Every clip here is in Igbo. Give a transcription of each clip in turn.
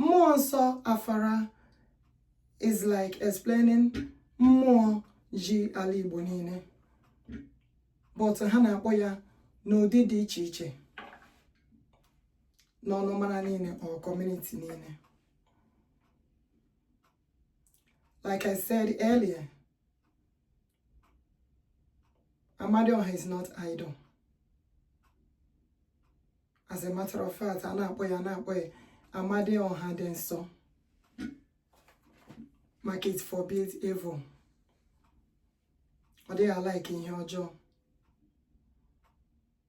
mmụọ nsọ afara is like explaining mmụọ ji ala Igbo niile but ha na-akpọ ya n'ụdị dị iche iche n'ọnụmara niile or community niile like I said earlier Amadioha is not idol. As a matter of fact, a na-akpọ a na-akpọ ya Amadioha dị nsọ. Maka it forbids evil. Ọ dịghị alaiki ihe ọjọọ.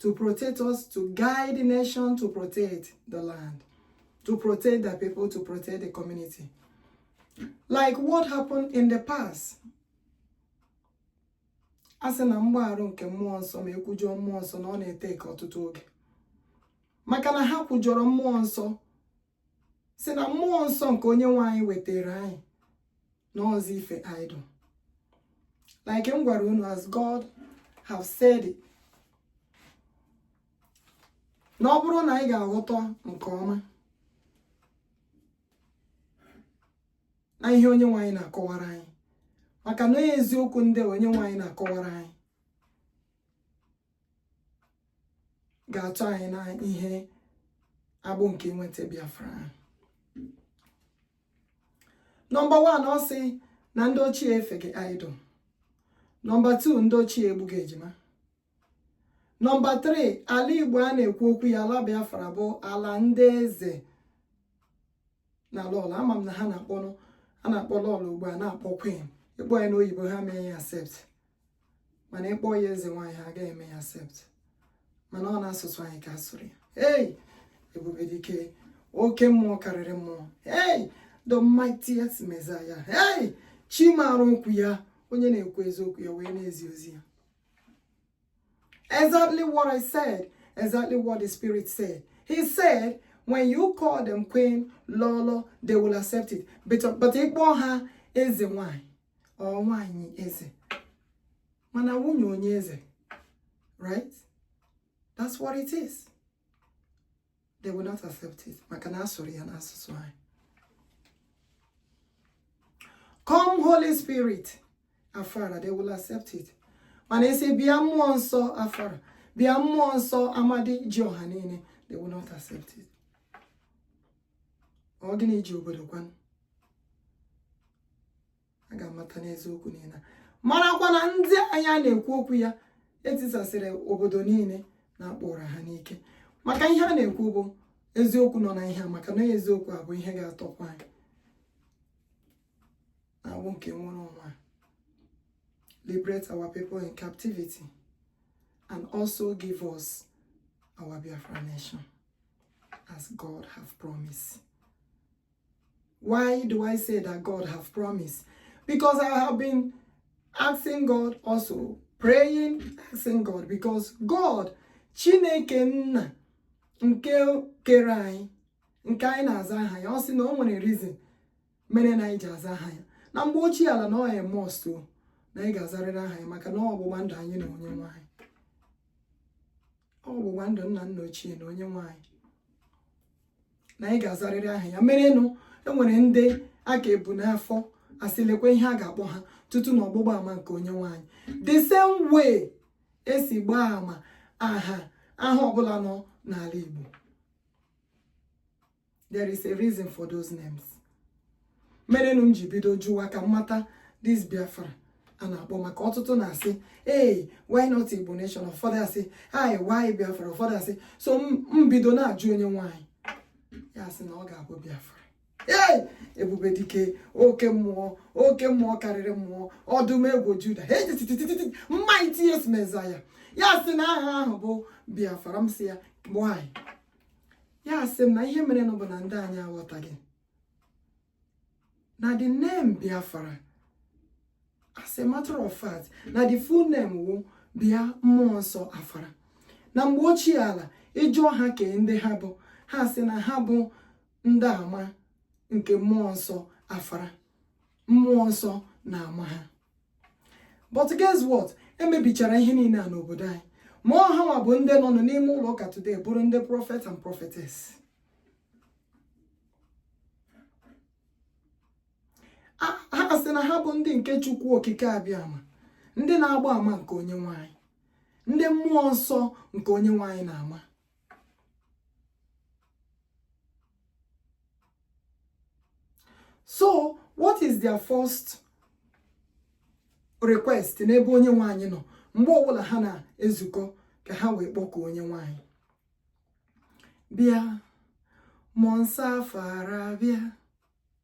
to protect us, to guide the nation, to protect the land, to protect the people, to protect the community. Like what happened in the past. a sị na mgbagharụ nke mmụọ nsọ ma e kwujọọ mmụọ nsọ na ọ na-ete aka ọtụtụ oge maka na ha kwujọrọ mmụọ nsọ sị na mmụọ nsọ nke onye nwe anyị wetara anyị na ọ bụzi ife idol like m gwara unu as God have said it na ọ bụrụ na anyị ga-aghọta nke ọma na ihe onye nwe anyị na-akọwara anyị maka na o nwere eziokwu ndị onye nwe anyị na-akọwara anyị ga-atọ anyị na ihe agbụ nke inweta Biafra nọmba 1 ọ sị na ndị ochie efeghị idol nọmba 2 ndị ochie egbughị ejima nọmba 3 ala Igbo a na-ekwu okwu ya ala Biafra bụ ala ndị eze na lọlọ ama m na ha na-akpọnụ a na-akpọ lọlọ ugbu a na-akpọ queen ị kpọọ ya n'oyibo ha mee ya accept mana ị kpọọ ya eze nwaanyị ha agaghị eme ya accept mana ọ n'asụsụ anyị ka a sụrụ ya hey ebube dike oke mmụọ karịrị mmụọ hey the mightiest messiah hey chi maara okwu ya onye na-ekwu eziokwu ya wee na-ezi ozi ya exactly what i said exactly what the spirit said he said when you call them queen lọlọ they will accept it but, but ị kpọọ ha eze nwaanyị or nwaanyị eze mana nwunye onye eze right that's what it is they will not accept it maka na a sụrụ ya n'asụsụ anyị come holy spirit afara they will accept it mana a sị bịa mmụọ nsọ afara bịa mmụọ nsọ amadi ji ọha niile they will not accept it ọ gịnị ji obodo kwanụ a ga-amata n'eziokwu niile marakwa na ndị anyị a na-ekwu okwu ya etisasịrị obodo niile na akpọrọ ha n'ike maka ihe a na-ekwu bụ eziokwu nọ na ihe a maka na eziokwu a bụ ihe ga-atọpụ anyị n'agbụ nke nwere onwe liberate our people in captivity and also give us our Biafra nation as God have promised. Why do I say that God have promised? Because I have been asking God also, praying, asking God, because God, Chineke Nna, nke kere anyị, nke anyị na-aza aha ya, ọ sị na o nwere reason mere na anyị ji aza aha ya. Na mgbe ochie ala na ọ a must na anyị ga-azarịrị aha ya maka na ọgbụgba ndụ anyị na onye nwe anyị. ọgbụgba ndụ nna nna ochie na onye nwe anyị na anyị ga-azarịrị aha ya merenụ enwere ndị a ka ebu n'afọ asị lekwa ihe a ga-akpọ ha tutu na ọgbụgba ama nke onye nwe anyị the same way esi gbaa ama aha aha ọbụla nọ n'ala Igbo there is a reason for those names merenụ m ji bido jụwa ka m mata this biafra a na-akpọ maka ọtụtụ na-asị ee why not igbo nation ụfọdụ asị hi why biafra ụfọdụ asị so m bido na-ajụ onye nwe anyị ya sị na ọ ga-abụ biafra ee ebube dike oke mmụọ oke mmụọ karịrị mmụọ ọdụm ebo juda the mightiest messiah ya sị na aha ahụ bụ biafra m sị ya nwanyị ya asị m na ihe mere nụ bụ na ndị anyị aghọtaghị na the name Biafra as a matter of fact na the full name wụ bịa mmụọ nsọ afara na mgbe ochie ala ịjụọ ha kee ndị ha bụ ha sị na ha bụ ndị ama nke mmụọ nsọ afara mmụọ nsọ na-ama ha but guess what emebichara ihe niile a n'obodo anyị ma ọ ha nwa bụ ndị nọ n'ime ụlọ ụka today bụrụ ndị prophet and prophetess ha sị na ha bụ ndị nke chukwu okike abịama ndị na-agba ama nke onye nwe anyị ndị mmụọ nsọ nke onye nwe anyị na-ama so what is their first request n'ebe onye nwe anyị nọ mgbe ọbụla ha na-ezukọ ka ha wee kpọkuo onye nwe anyị bịa mmụọ nsọ afara bịa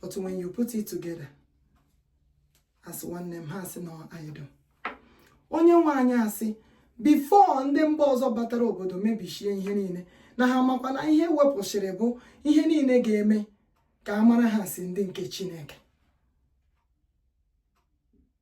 but when you put it together as one name ha asị na idol onye nwe anyị asị before ndị mba ọzọ batara obodo mebishie ihe niile na ha makwa na ihe wepụsịrị bụ ihe niile ga-eme ka a mara ha si ndị nke Chineke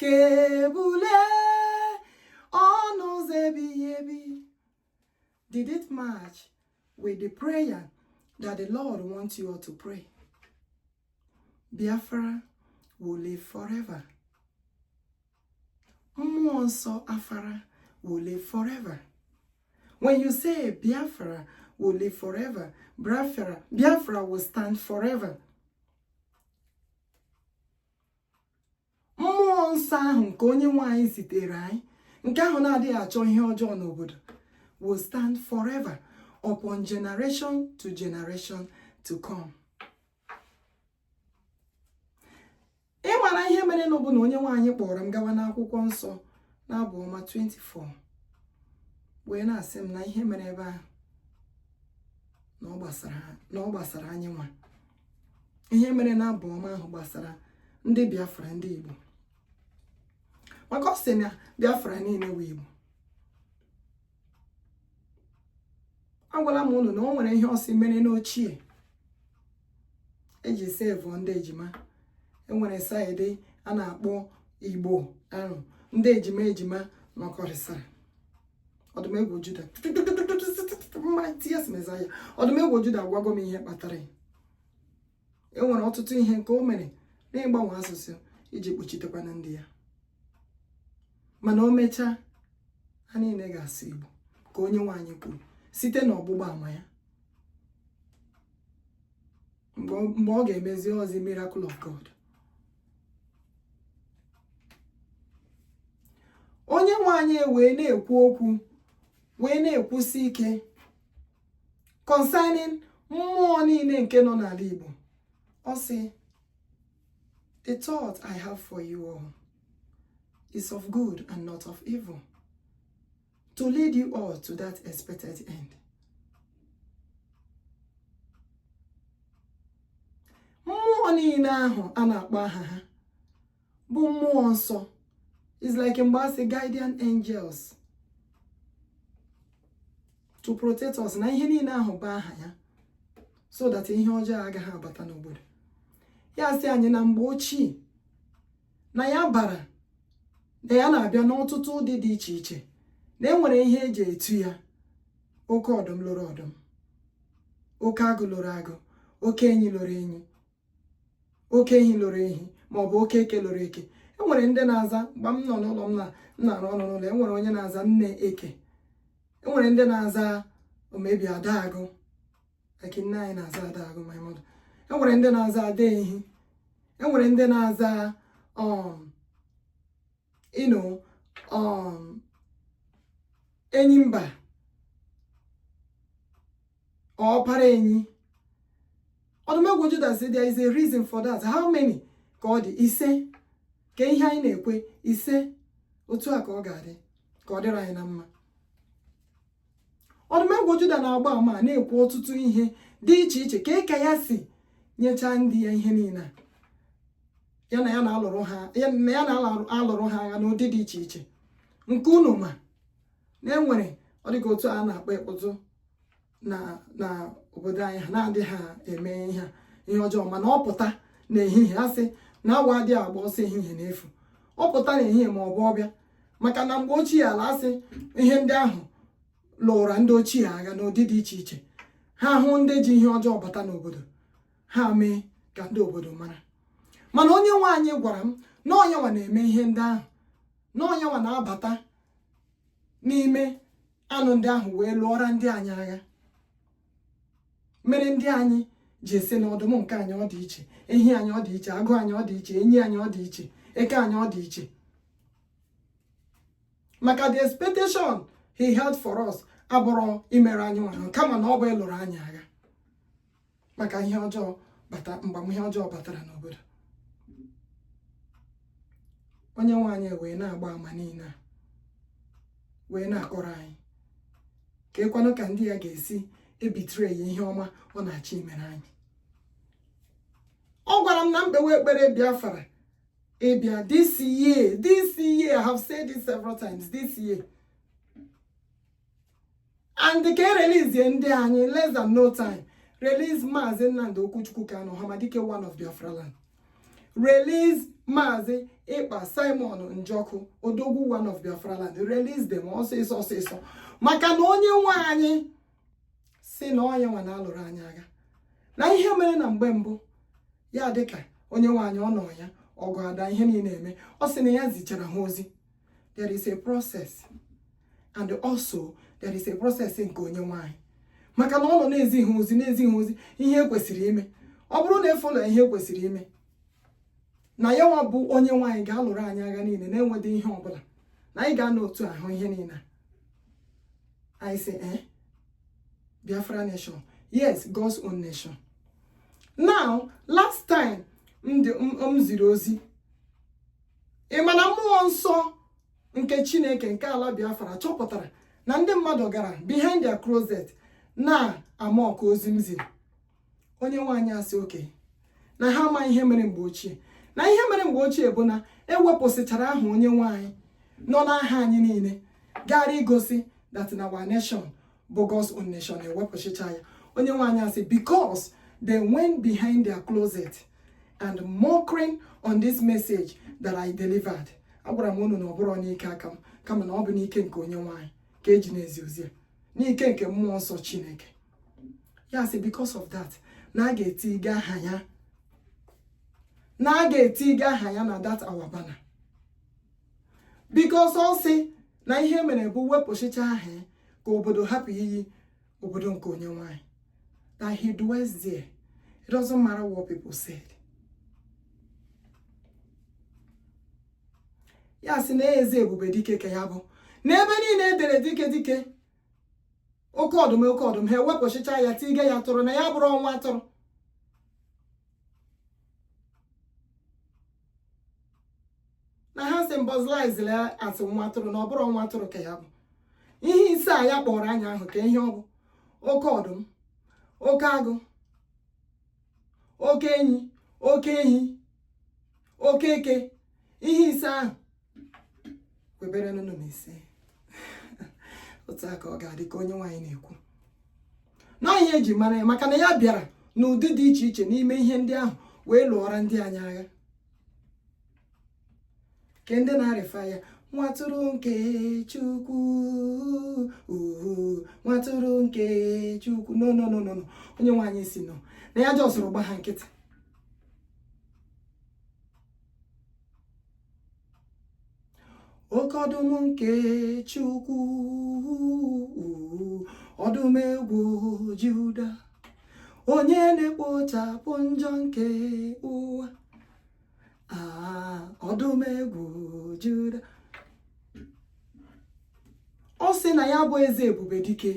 ka ebule ọnụ ụzọ ebighị ebi did it match with the prayer that the Lord wants you all to pray Biafra will live forever mmụọ nsọ afara will live forever when you say Biafra will live forever. Biafra, Biafra will stand forever. mmụọ nsọ ahụ nke onye nwe anyị zitere anyị nke ahụ na-adịghị achọ ihe ọjọọ n'obodo will stand forever upon generation to generation to come. ị mara ihe mere na ọ bụ na onye nwe anyị kpọrọ m gawa n'akwụkwọ nsọ n'abụ ọma 24 wee na-asị m na ihe mere ebe ahụ na ọ gbasara anyị nwa ihe mere na abụ ọma ahụ gbasara ndị biafra ndị igbo maka ọ sị na biafra niile wụ igbo agwala m unu na o nwere ihe ọ sị mere n'ochie eji save ndị ejima enwere side a na-akpọ igbo ahụ ndị ejima ejima nọkọrịsịrị ọdụmegwu juda mightiest messiah ọdụmegwu juda agwago m ihe kpatara ya e nwere ọtụtụ ihe nke o mere n'ịgbanwe asụsụ iji kpuchitekwana ndị ya mana o mechaa ha niile ga-asụ igbo ka onye nwe anyị kwuru site n'ọgbụgba ama ya mgbe ọ ga-emezi ozi miracle of God onye nwe anyị wee na-ekwu okwu wee na-ekwusi ike concerning mmụọ niile nke nọ n'ala Igbo ọ sị the thought I have for you all is of good and not of evil to lead you all to that expected end. mmụọ niile ahụ a na-akpọ aha ha bụ mmụọ nsọ is like mgbe a sị guardian angels to protect us na ihe niile ahụ bụ aha ya so that ihe ọjọọ agaghị abata n'obodo ya sị anyị na mgbe ochie na ya bara na ya na-abịa n'ọtụtụ ụdị dị iche iche na enwere ihe eji etu ya oke ọdụm loro ọdụm oke agụ loro agụ oke enyi loro enyi oke ehi loro ehi ma ọ bụ oke eke loro eke enwere ndị na-aza mgbe m nọ n'ụlọ m na-arụ ọrụ n'ụlọ enwere onye na-aza nne eke enwere ndị na-aza omebi ada agụ eke nne anyị na-aza ada agụ my mother enwere ndị na-aza ada ehi enwere ndị na-aza um you know um enyi mba ọpara enyi ọdụmegwu juda sị there is a reason for that how many ka ọ dị ise ka ihe anyị na-ekwe ise otu a ka ọ ga-adị ka ọ dịrị anyị na mma ọdụmegwu juda na-agba ama na-ekwu ọtụtụ ihe dị iche iche ka ịka ya si nyechaa ndị ya ihe niile ya na ya na-alụrụ ha agha n'ụdị dị iche iche nke unu ma na enwere ọ dịka otu a na-akpọ ikputu na na obodo anyị ha na-adị ha eme ihe ihe ọjọọ mana ọ pụta n'ehihie a sị na awọ adịghị agba ọsọ ehihie n'efu ọ pụta n'ehihie ma ọ bụ ọ bịa maka na mgbe ochie a na-asị ihe ndị ahụ lụụra ndị ochie agha n'ụdị dị iche iche ha hụ ndị ji ihe ọjọọ bata n'obodo ha mee ka ndị obodo mara mana onye nwe anyị gwara m na ọ ya nwa na-eme ihe ndị ahụ na ọ ya nwa na-abata n'ime anụ ndị ahụ wee lụọra ndị anyị agha mere ndị anyị ji asị na ọdụm nke anyị ọ dị iche ehi anyị ọ dị iche agụ anyị ọ dị iche enyi anyị ọ dị iche eke anyị ọ dị iche maka the expectation he had for us abụrọ imere anyị nwanyị kama na ọ bụ ịlụrụ anyị agha maka mgbama ihe ọjọọ batara n'obodo onye nwe anyị wee na-agba ama niile a wee na-akọrọ anyị ka ịkwanụ ka ndị ya ga-esi ebetere ya ihe ọma ọ na-achọ imere anyị ọ gwara m na m kpewe ekpere biafra ịbịa this year this year I have said it several times this year and ka e release ndị anyị less than no time release maazị Nnamdi Okwuchukwu Kanu Hamadike one of Biafra land release maazị ekpa simon njọkụ odogwu one of biafra land release them ọsịsọ ọsịsọ maka na onye nwe anyị sị na ọ ya nwa na-alụrụ anyị agha na ihe mere na mgbe mbụ ya dịka onye nwe anyị ọ nọ ya ọgụ ada ihe niile eme ọ sị na ya zichara ha ozi there is a process and also there is a process nke onye nwe anyị maka na ọ nọ na-ezi ha ozi na-ezi ha ozi ihe e kwesịrị ime ọ bụrụ na e follow ihe e kwesịrị ime na ya nwa bụ onye nwe anyị ga-alụrụ anyị agha niile na enwedịghị ihe ọbụla na anyị ga-anọ otu ahụ ihe niile anyị sị ee eh, Biafra nation yes God's own nation now last time m ziri ozi ị ma na mmụọ nsọ nke chineke nke ala biafra chọpụtara na ndị mmadụ gara behind their closet na-amock ozi m ziri onye nwe anyị asị okay na ha ama ihe mere mgbe ochie na ihe mere mgbe ochie bụ na ewepụsịchara aha onye nwe anyị nọ n'aha anyị niile gara igosi that na our nation bụ God's Own Nation ewepụsịcha ya onye nwe anyị asị because they went behind their closet and mocking on this message that I delivered agwara m unu na ọ bụrọ n'ike aka m kama na ọ bụ n'ike nke onye nwe anyị ka eji na-ezi ozi a n'ike nke mmụọ nsọ Chineke ya sị because of that na a ga-etiga aha ya na a ga-etiga aha ya na that our banner because ọ sị na ihe mere bụ wepụsịcha aha ka obodo hapụ iyi obodo nke onye nwe anyị na he dwells there it doesn't matter what people said ya sị na eze ebube dike ka ya bụ n'ebe niile edere dike dike oke ọdụm oke ọdụm ha ewepụsịcha ya tiga ya atụrụ na ya abụrọ nwa atụrụ na ha symbolized as nwa atụrụ na ọ bụrọ nwa atụrụ ka ya bụ ihe ise a ya kpọrọ anya ahụ ka ihe ọ bụ oke ọdụm oke agụ oke enyi oke ehi oke eke ihe ise ahụ kwebere nnụnụ mee isii otu a ka ọ ga-adị ka onye nwe anyị na-ekwu na ihe eji mara ya maka na ya bịara n'ụdị dị iche iche n'ime ihe ndị ahụ wee lụọra ndị anyị agha ke ndị na-arefer ya nwa atụrụ nke chukwu nwa atụrụ nke chukwu no no no no onye nwe anyị sị no na ya jọsụrụ gba ha nkịtị oke ọdụm nke Chukwu ọdụm ebo Juda onye na-ekpochapụ njọ nke ụwa ah, ọdụm ebo Juda ọ sị na ya bụ eze ebube dike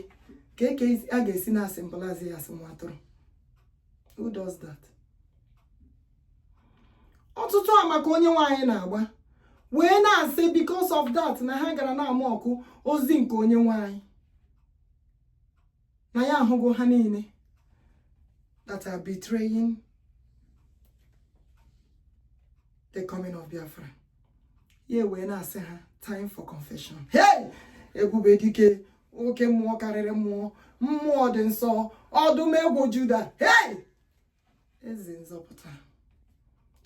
kee ka a ga-esi na-asymbolize ya as nwa atụrụ who does that ọtụtụ ama ka onye nwe anyị na-agba wee na-asị because of that na ha gara na-amock ozi nke onye nwe anyị na ya ahụgo ha niile that are betraying the coming of Biafra ya wee na-asị ha time for confession hey ebube dike oke mmụọ karịrị mmụọ mmụọ dị nsọ ọdụm ebo juda hey eze nzọpụta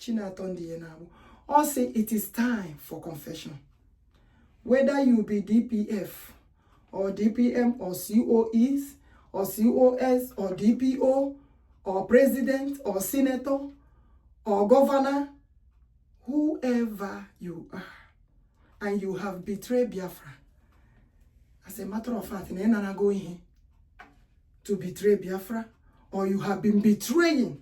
chi na-atọ ndị ya n'agbụ ọ sị it is time for confession whether you be dpf or dpm or coes or cos or dpo or president or senator or governor whoever you are and you have betrayed Biafra as a matter of fact na ị narago ihe to betray Biafra or you have been betraying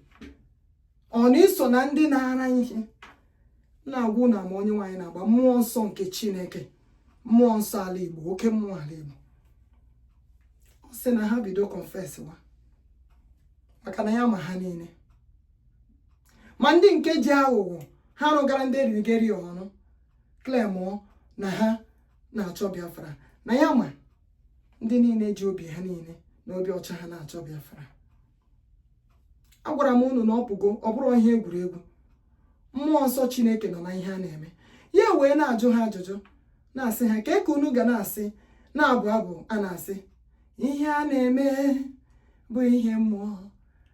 ọ na i so na ndị nara ihe na-agwụ na ma onye nwe anyị na-agba mmụọ nsọ nke Chineke mmụọ nsọ ala Igbo oke mmụọ ala Igbo ọ sị na ha bido confess wa maka na ya ma ha niile ma ndị nke ji aghụghọ ha rụgara ndị erigeri ọrụ claimụọ na ha na-achọ Biafra na ya ma ndị niile ji obi ha niile na obi ọcha ha na-achọ Biafra agwara m unu na ọ pụgo ọ bụrụ ihe egwuregwu mmụọ nsọ Chineke nọ na ihe a na-eme ya wee na-ajụ ha ajụjụ na-asị ha kee ka unu ga na-esi na-abụ abụ a na-asị ihe a na-eme bụ ihe mmụọ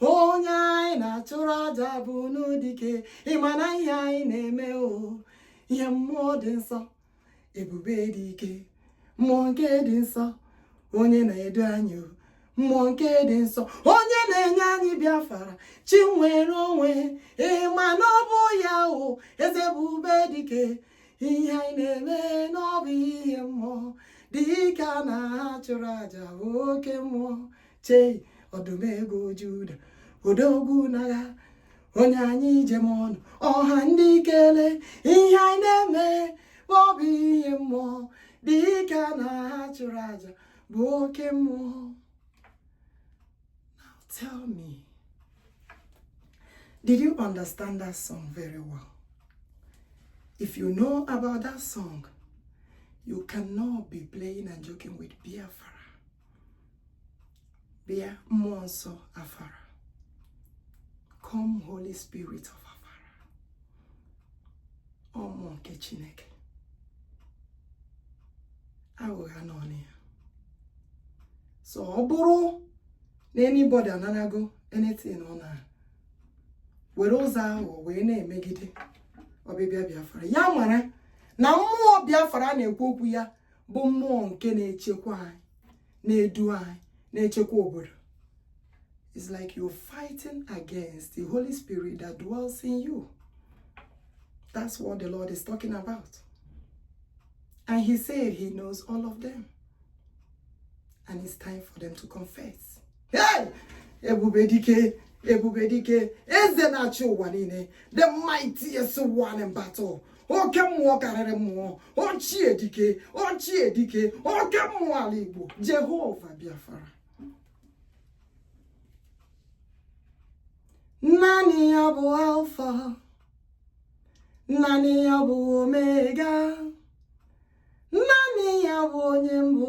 onye anyị na-achụrụ aja bụ nụ dike ị ma na ihe anyị na-eme o ihe mmụọ dị nsọ ebube dike mmụọ nke dị nsọ onye na-edu anyị o mmụọ nke dị nsọ onye na-enye anyị bịafara chi nwere onwe ị ma na ọ bụ ya o eze ebube dike ihe anyị na-eme na ọ bụ ihe mmụọ dike a na-achụrụ aja bụ oke mmụọ chei ọdụm ebo Juda odogwu n'agha onye anyị ji eme ọnụ ọha ndị kele ihe anyị na-eme ma ọ bụ ihe mmụọ dike a na-achụrụ aja bụ oke mmụọ now tell me did you understand that song very well if you know about that song you cannot be playing and joking with Biafra bịa mmụọ nsọ afara come holy spirit of afara ọ mmụọ nke chineke aghụgha n'ọnụ ya so ọ bụrụ na anybody anarago anything ọ na-ewere ụzọ ahụ wee na-emegide ọbịbịa biafra ya mara na mmụọ biafra na-ekwu okwu ya bụ mmụọ nke na-echekwa anyị na-edu anyị na-echekwa obodo it's like you're fighting against the Holy Spirit that dwells in you that's what the Lord is talking about and he said he knows all of them and it's time for them to confess ebube dike ebube dike eze na-achị ụwa niile the mightiest one in battle oke mmụọ karịrị mmụọ ochie dike ochie dike oke mmụọ ala igbo jehova biafara naanị ya bụ alfa naanị ya bụ omega naanị ya bụ onye mbụ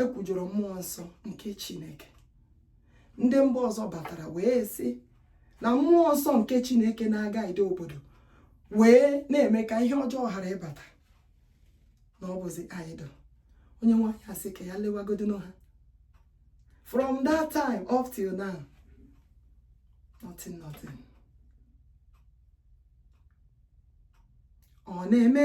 e kwujọrọ mmụọ nsọ nke chineke ndị mba ọzọ batara wee sị na mmụọ nsọ nke chineke na-aguide obodo wee na-eme ka ihe ọjọọ ghara ịbata na ọ bụzi idol onye nwe anyị asị ka ya lewagodi ha from that time up till now nothing nothing ọ na-eme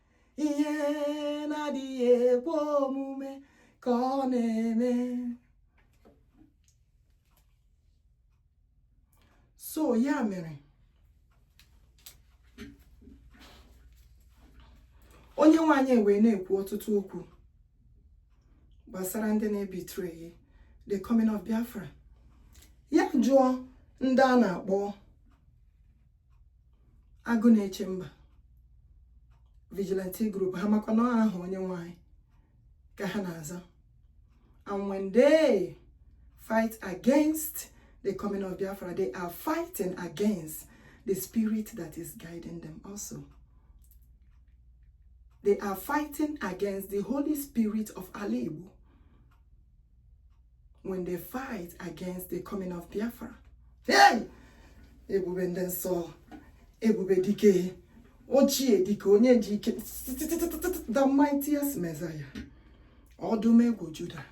ihe na-adịghị ekwe omume ka ọ na-eme so ya mere onye nwe anyị wee na-ekwu ọtụtụ okwu gbasara ndị na-ebetray the coming of Biafra ya jụọ ndị a na-akpọ agụ na-eche mba vigilante group ha makwa na ọ aha onye nwe anyị ka ha na-aza and when they fight against the coming of Biafra they are fighting against the spirit that is guiding them also they are fighting against the Holy Spirit of Ala when they fight against the coming of Biafra. Hey! Ebube ndị nsọ, ebube dike, ochie dike, onye ji ike, the mightiest Messiah, ọdụm egwu Juda.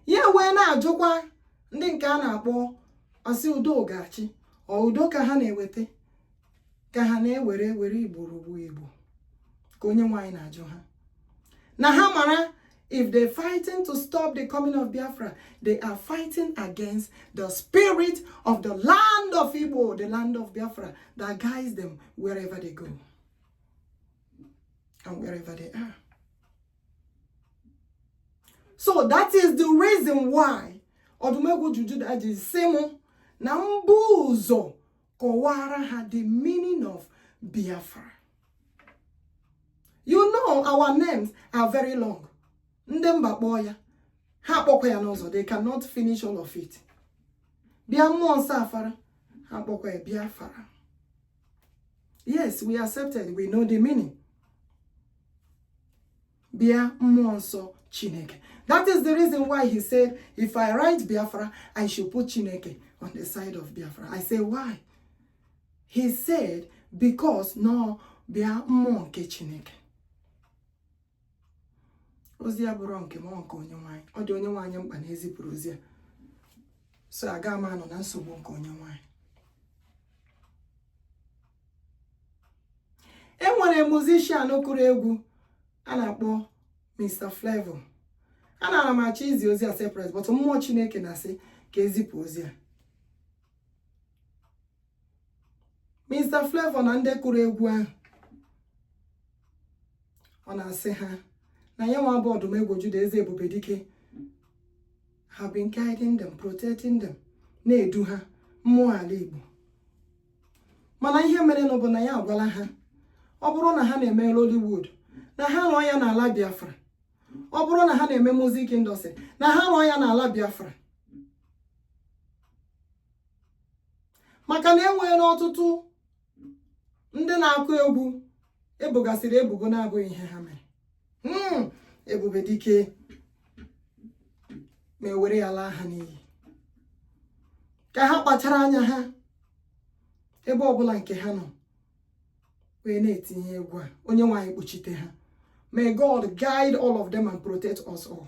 Ya wee na-ajụkwa ndị nke a na-akpọ asị udo ga-achị ọ udo ka ha na-eweta ka ha na-ewere were igbo rugbu igbo ka onye nwe anyị na-ajụ ha na ha mara if they fighting to stop the coming of biafra they are fighting against the spirit of the land of igbo the land of biafra that guides them wherever they go and wherever they are so that is the reason why ọdụm egwu ju juda ji sị mụ na mbụ ụzọ kọwara ha the meaning of Biafra you know our names are very long ndị mba kpọọ ya ha akpọkwa ya n'ụzọ they cannot finish all of it bịa mmụọ nsọ afara ha akpọkwa ya Biafra yes we accepted we know the meaning bịa mmụọ nsọ chineke that is the reason why he said if i write biafra i should put chineke on the side of biafra i say why he said because no bịa mmụọ nke chineke ozi a bụrụ nke mmụọ nke onye nwe anyị ọ dị onye nwe anyị mkpa na e zipụrụ ozi a so aga m anọ na nsogbu nke onye nwe anyị enwere musician kụrụ egwu a na-akpọ Mr. Flavor anara m achọ izi ozi a separate but mmụọ Chineke na-asị ka ezipụ ozi a Mr. Flavor na ndị kụrụ egwu ahụ ọ na-asị ha na ya nwa bụ ọdụm ebo Juda eze ebube dike have been guiding them protecting them na-edu ha mmụọ ala Igbo mana ihe merenụ bụ na ya agwala ha ọ bụrụ na ha na-eme Lollywood na ha rụọ ya n'ala Biafra ọ bụrụ na ha na-eme music industry na ha rụọ ya n'ala Biafra maka na enweela ọtụtụ ndị na-akụ egwu ebogasịrị ebubo na-abụghị ihe ha mere hmm, ebube dike ma ewere ya laa ha n'iyi ka ha kpachara anya ha ebe ọbụla nke ha nọ wee na-eti egwu a onye nwe anyị kpuchite ha may God guide all of them and protect us all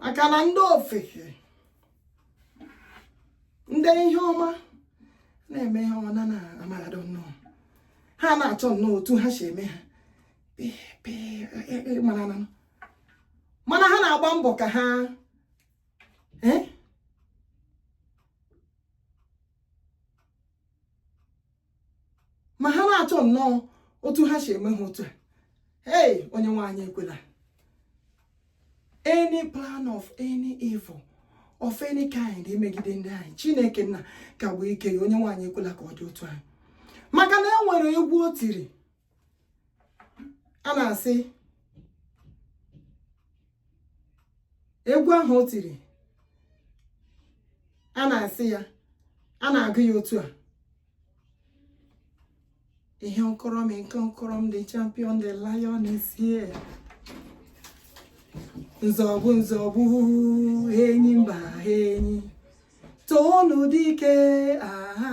maka na ndị ofeke ndị ihe ọma na-eme ihe ọma na amaradụ nnọọ ha na-achọ nnọọ otu ha si eme ha mana ha na-agba mbọ ka ha eh? ma ha na-achọ nnọọ otu ha si eme ha otu a hey onye nwe anyị ekwela any plan of any evil of any kind imegide ndị anyị chineke nna kagbuo ike ya onye nwe anyị ekwela ka ọ dị otu anyị maka na e nwere egwu o tiri a na-asị egwu ahụ o tiri a na-asị ya a na-agụ ya otu a ihe nkọrọ m nke nkọrọ m the champion the lion is here nzọgbu nzọgbu enyimba enyi toonu dike aha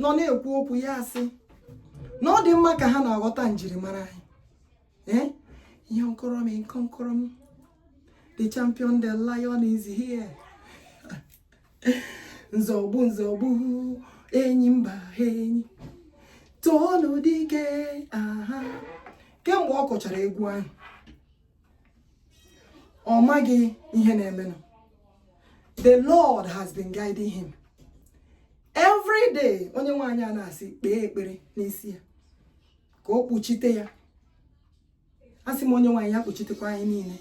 nọ na-ekwu okwu ya asị na ọ dị mma ka ha na-aghọta njirimara anyị ee eh? ihe nkọrọ m nkọ nkọrọ m the champion the lion is here nzọgbu nzọgbu enyi mba enyi toonu dike aha kemgbe ọ kụchara egwu ahụ ọ maghị ihe na-emenụ the lord has been guiding him every day onye nwe anyị na-asị kpee ekpere n'isi ya ka o kpuchite ya asị m onye nwe anyị ya kpuchitekwa anyị niile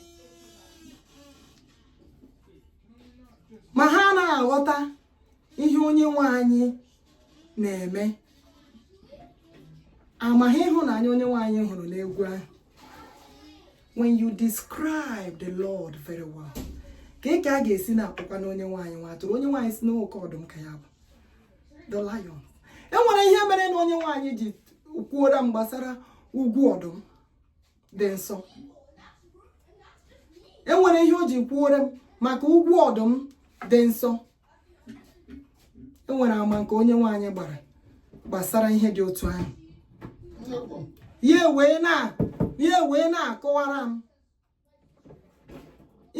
ma ha anaghị aghọta ihe onye nwe anyị na-eme amaghị ịhụnanya onye nwe anyị hụrụ n'egwu ahụ when you describe the Lord very well ka ị ka a ga-esi na-akpọkwa na onye nwe anyị nwa atụrụ onye nwe anyị sị na oke ọdụm ka ya bụ the lion e nwere ihe merenụ onye nwe anyị ji kwuora m gbasara ugwu ọdụm dị nsọ e nwere ihe o ji kwuore m maka ugwu ọdụm dị nsọ e nwere ama nke onye nwe anyị gbara gbasara ihe dị otu ahụ ya wee na-akọwara m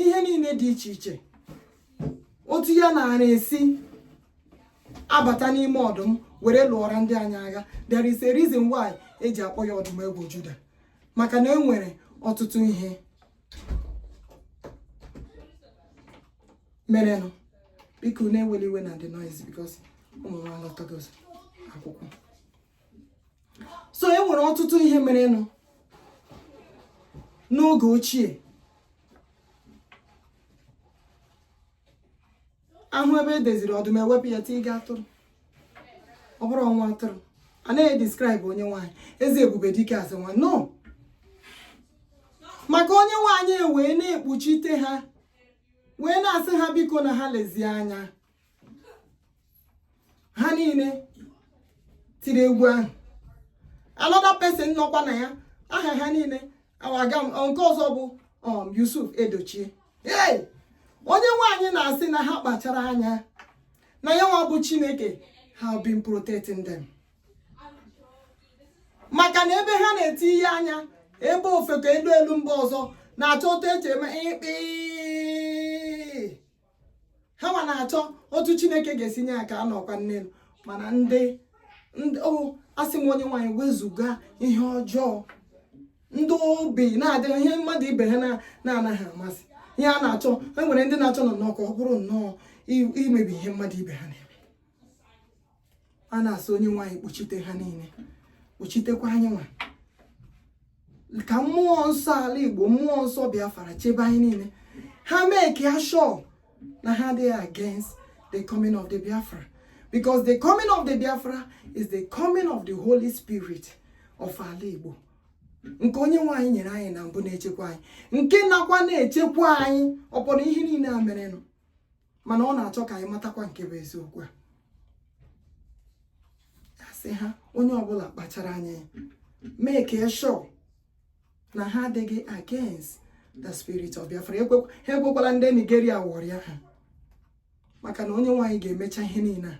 ihe niile dị iche iche otu ya na-ara esi abata n'ime ọdụm were lụọra ndị anyị agha there is a reason why e ji akpọ ya ọdụm ebo Juda maka na e nwere ọtụtụ ihe merenụ biko unu ewela iwe na the noise because ụmụ nwa alọtagozi akwụkwọ so e nwere ọtụtụ ihe merenụ n'oge ochie ahụ ebe e deziri ọdụm e wepụ ya tiiga atụrụ ọ bụrụ nwa atụrụ a naghị describe onye nwe anyị eze ebube dike asị nwa no maka onye nwe anyị wee na-ekpuchite ha wee na-asị ha biko na ha lezie anya ha niile tiri egwu ahụ another person nọkwa na ya aha ha niile awaga nke ọzọ bụ um, Yusuf Edochie ee onye nwe anyị na-asị na ha kpachara anya na ya nwa bụ Chineke has been protecting them maka na ebe ha na-eti ihe anya ebe ofeke elu elu mgbe ọzọ na-achọ otu eche eme ịkpị ha nwa na-achọ otu chineke ga-esi nye aka anọkwa nne mana ndị o asị m onye nwe anyị wezuga ihe ọjọọ ndị obi na-adịghị ihe mmadụ ibe ha na-anaghị amasị ihe a na-achọ e nwere ndị na-achọ nnọọ ka ọ bụrụ nnọọ imebi ihe mmadụ ibe ha na-eme a na-asị onye nwe anyị kpuchite ha niile kpuchitekwa anyị nwa ka mmụọ nsọ ala igbo mmụọ nsọ biafra chebe anyị niile ha make sure na ha dị against the coming of the biafra because the coming of the biafra is the coming of the holy spirit of ala igbo nke onye nwe anyị nyere anyị na mbụ na-echekwa anyị nke nakwa na-echekwa anyị ọpọrọ ihe niile a merenụ mana ọ na-achọ ka anyị matakwa nke bụ eziokwu a asị ha onye ọbụla kpachara anya make sure na ha adịghị against the spirit of Biafra ha ekwekwala ndị Nigeria ghọrịa ha maka na onye nwe anyị ga-emecha ihe niile a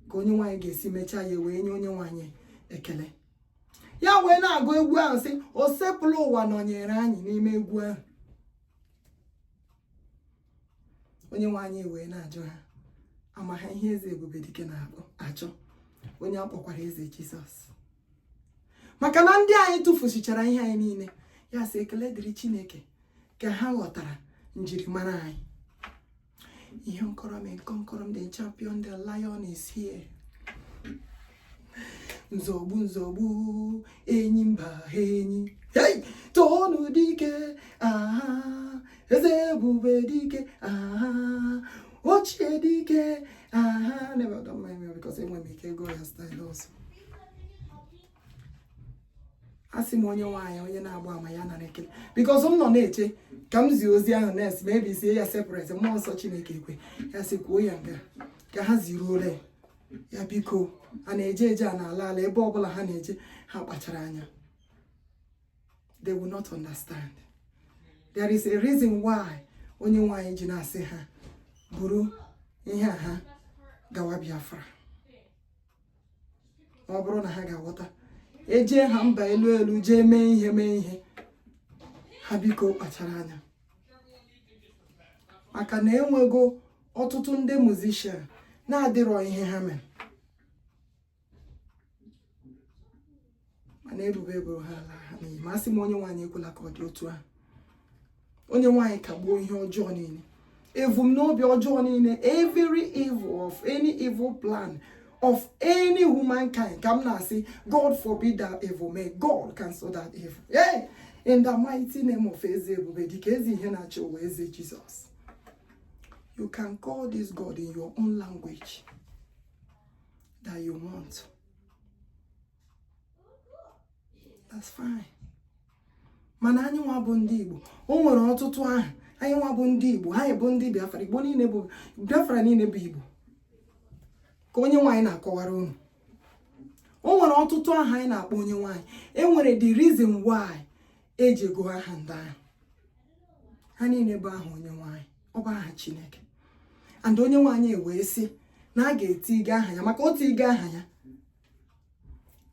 ka onye nwe anyị ga-esi mechaa ya wee nye onye nwe anyị ekele ya wee na-agụ egwu ahụ sị osebụrụwa nọnyere anyị n'ime egwu ahụ onye nwe anyị wee na-ajụ ha ama ha ihe eze ebube dike na-achọ onye a kpọkwara eze jizọs maka na ndị anyị tufusichara ihe anyị niile ya sị ekele dịrị chineke ka ha ghọtara njirimara anyị ihe nkọrọ m nkọrọ m dị champion the lion is here nzọgbu nzọgbu enyi mba enyi hey! toonụ dike aha eze ebube dike aha ochie dike aha never done my meal because enwe m ike go ya style also asị m onye nwe anyị onye na-agba ama ya nara ekele because m nọ na-eche ka m zie ozi ahụ nes ma ebisie ya separate mmụọ nsọ chineke ekwe ya sị kwuo ya nga ka ha ziruo ole ya biko a na-eje eje a na-ala ala ebe ọbụla ha na-eje ha kpachara anya they will not understand there is a reason why onye nwe anyị ji na-asị ha buru ihe a ha gawa Biafra ma ọ bụrụ na ha ga-aghọta ejee ha mba elu elu jee mee ihe mee ihe ha biko kpachara anya maka na enwego ọtụtụ ndị musician na-adịrọ ihe ha mere mana ebube eburu ha ala ha n'iyi ma asị m onye nwe anyị ekwela ka ọ dị otu ahụ onye nwe anyị kagbuo ihe ọjọọ niile ebumnobi ọjọọ niile every evil of any evil plan of any humankind ka m na-asị god forbid that evil may god cancel that evil hey! in the mighty name of eze ebube dike eze ihe na-achị ụwa eze Jesus you can call this god in your own language that you want that's fine mana anyị nwa bụ ndị Igbo o nwere ọtụtụ aha anyị nwa bụ ndị Igbo anyị bụ ndị Biafra Igbo niile bụ Biafra niile bụ Igbo ka Onyenwe anyị na-akọwara unu o nwere ọtụtụ aha anyị na-akpọ Onyenwe anyị e nwere the reason why e jigo aha ndị ahụ ha niile bụ aha Onyenwe anyị ọ bụ aha Chineke and Onyenwe anyị wee sị na a ga-etige aha ya maka otu ige aha ya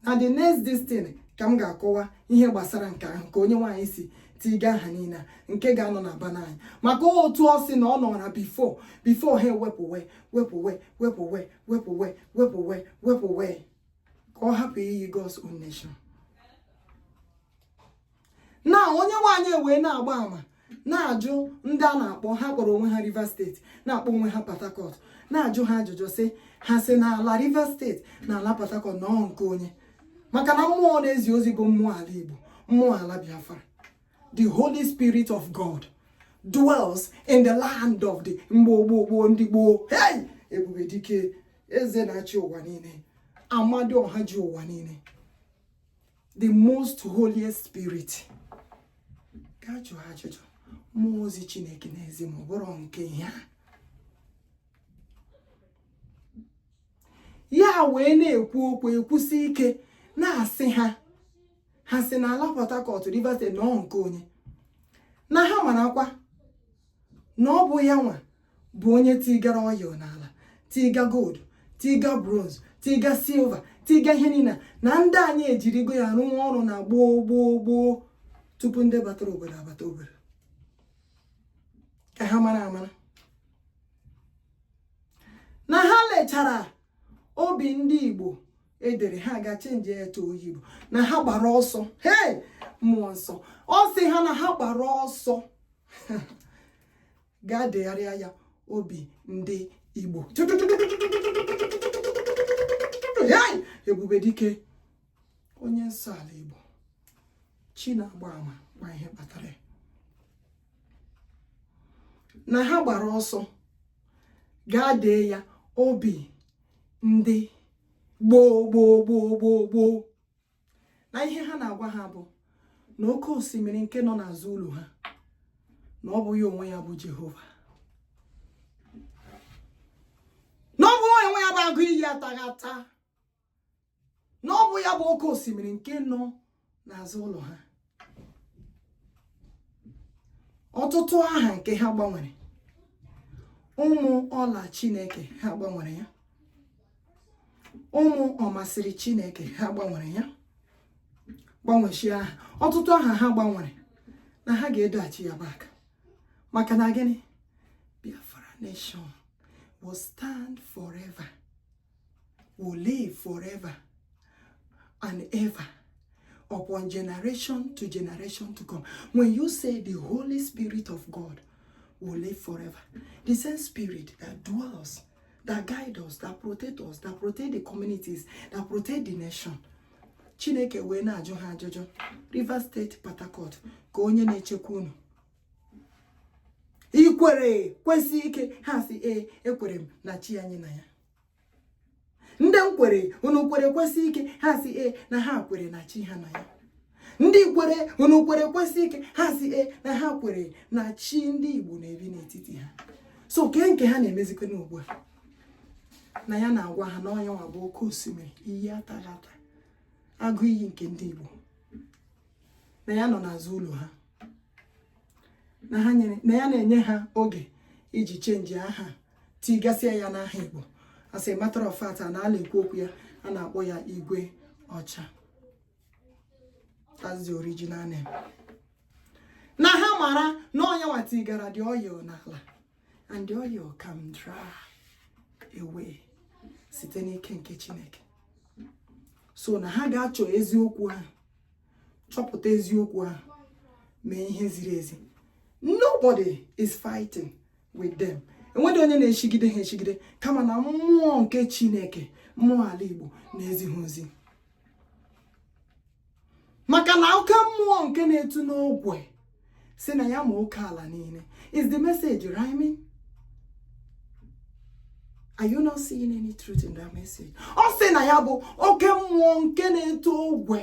na the next distin ka m ga-akọwa ihe gbasara nke ahụ ka Onyenwe anyị si tiga aha niile nke ga-anọ na banner anyị maka otu ọ sị na ọ nọra before before ha ewepụwe wepụwe wepụwe wepụwe wepụwe wepụwe ka ọ hapụ iyi God's own nation na Onyenwe anyị wee na-agba ama na-ajụ ndị a na-akpọ ha kpọrọ onwe ha Rivers State na-akpọ onwe ha Port Harcourt na-ajụ ha ajụjụ sị ha sị na ala Rivers State na ala Port Harcourt na ọ nke onye maka na mmụọ na-ezi ozi bụ mmụọ ala Igbo mmụọ ala Biafra the Holy Spirit of God dwells in the land of the gboo gboo gboo ndị gboo hey ebube dike eze na-achị ụwa niile ọha ji ụwa niile the most holiest spirit gaa jụọ ajụjụ mmụọ ozi chineke n'ezi ma ọ bụrụ nke ihe a ya wee na-ekwu okwu ekwusi ike na-asị ha ha sị na ala Port Harcourt Rivers State na ọ nke onye na ha marakwa na ọ bụ ya nwa bụ onye tigara oil n'ala tiga gold tiga bronze tiga silver tiga ihe niile na ndị anyị ejirigo ya rụọ ọrụ na gboo gboo gboo tupu ndị batara obodo abata obodo ka ha mara amara na ha lechara obi ndị Igbo e dere ha gaa change ya to Oyigbo na ha gbara ọsọ hei mmụọ nsọ ọ sị ha na ha gbara ọsọ gaa degharịa ya obi ndị Igbo ebube dike onye nsọ ala Igbo chi na-agba ama ma ihe kpatara ya na ha gbara ọsọ gaa dee ya obi ndị gboo gboo gboo gboo gboo na ihe ha na-agwa ha bụ na oke osimiri nke nọ n'azụ ụlọ ha na ọ bụghị onwe ya bụ Jehova na ọ bụghị onwe ya bụ agụ iyi ataghị ata na ọ bụ ya bụ oke osimiri nke nọ n'azụ ụlọ ha ọtụtụ aha nke ha gbanwere Ụmụọla chineke ha gbanwere ya Ụmụọmasịrị chineke ha gbanwere ya gbanweshị aha ọtụtụ aha ha gbanwere na ha ga-edoghachi ya back maka na gịnị Biafra nation will stand forever will live forever and ever upon generation to generation to come. When you say the Holy Spirit of God will live forever, the same spirit that dwells, that guides us, that protects us, that protects the communities, that protects the nation. Chineke wee na-ajụ ha ajụjụ Rivers State Port ka onye na-echekwa unu i kwere kwesie ike ha sị ee ekwere m na chi anyị na ya ndị m kwere unu kwere kwesie ike ha sị ee na ha kwere na chi ha na ya ndị kwere unu kwere kwesie ike ha sị ee na ha kwere na chi ndị Igbo na-ebi n'etiti ha so kee nke ha na-emezikwanụ ugbu a na ya na-agwa ha na ọ nya nwa bụ oke osimiri iyi atara ata agụ iyi nke ndị Igbo na ya nọ n'azụ ụlọ ha na ha nyere na ya na-enye ha oge iji chenji aha tigasịa ya n'aha Igbo as a matter of fact na ala ekwu okwu ya a na-akpọ ya Igweọcha that's the original name na ha mara na ọ nya nwa tigara the oil n'ala and the oil can dry away site n'ike nke Chineke so na ha ga-achọ eziokwu ahụ chọpụta eziokwu ahụ mee ihe ziri ezi nobody is fighting with them enweghị onye na-echigide ha echigide kama na mmụọ nke chineke mmụọ ala igbo na-ezi ha ozi maka na oke mmụọ nke na-etu n'ogwe sị na ya ma oke ala niile is the message rhyming are you not seeing any truth in that message ọ sị na ya bụ oke mmụọ nke na-eto ogwe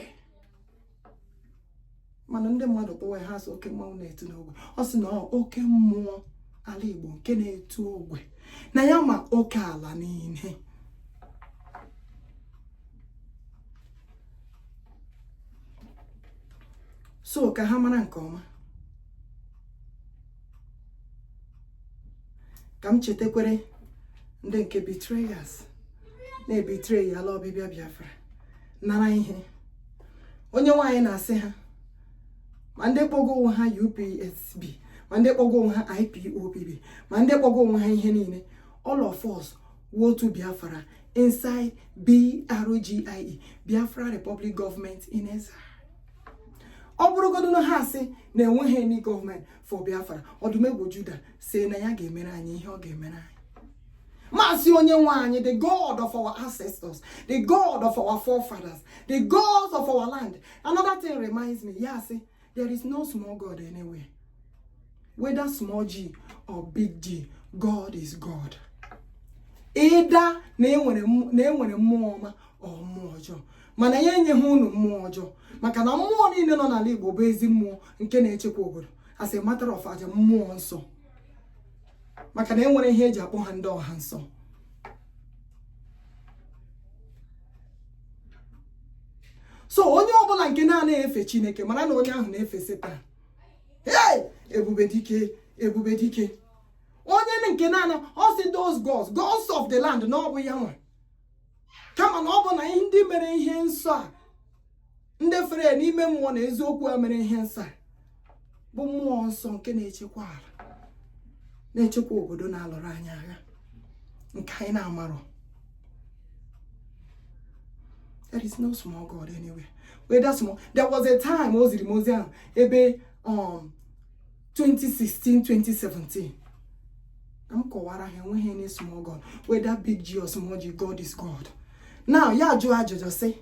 mana ndị mmadụ kpọwa ha sị oke mmanwụ na-eto n'ogwe ọ sị na oke mmụọ ala Igbo nke na-eto ogwe na ya ma oke ala niile so ka ha mara nke ọma ka m chetakwere ndị nke betrayers na-ebetray ya ala ọbịbịa Biafra nara ihe Onyenwe anyị na-asị ha ma ndị kpọgo onwe ha UPSB ma ndị kpọgo onwe ha IPOB ma ndị kpọgo onwe ha ihe niile all of us wotu biafra inside BRGIE Biafra Republic Government in Exile ọ bụrụgodu na ha asị na enweghị any gọọmenti for Biafra ọdụm ebo Juda sị na ya ga-emere anyị ihe ọ ga-emere anyị maazị onye nwe anyị the god of our ancestors the god of our forefathers the gods of our land another thing reminds me ya asị there is no small god anywhere whether small g or big g god is god either na enwere mmụọ ọma or mmụọ ọjọọ mana ya enyeghị unu mmụọ ọjọọ maka na mmụọ niile nọ n'ala igbo bụ ezi mmụọ nke na-echekwa obodo as a matter of aja mmụọ nsọ maka na enwere ihe eji akpọ ha ndị ọha nsọ so onye ọbụla nke na-anaghị efe chineke mara na onye ahụ na-efe setan hey ebube dike ebube dike onye nke na-ana ọ sị those gods gods of the land na ọ bụ ya nwa kama na ọ bụ na ndị mere ihe nsọ a ndị fere ya n'ime mmụọ na eziokwu ha mere ihe nsọ bụ mmụọ nsọ nke na-echekwa ala na-echekwa obodo na-alụrụ anyị agha nke anyị na-amarọ there is no small God anywhere whether small there was a time o ziri m ozi ahụ ebe um, 2016-2017 ka m kọwara ha enweghị any small god whether big G or small G God is God now ya ajụọ ajụjụ sị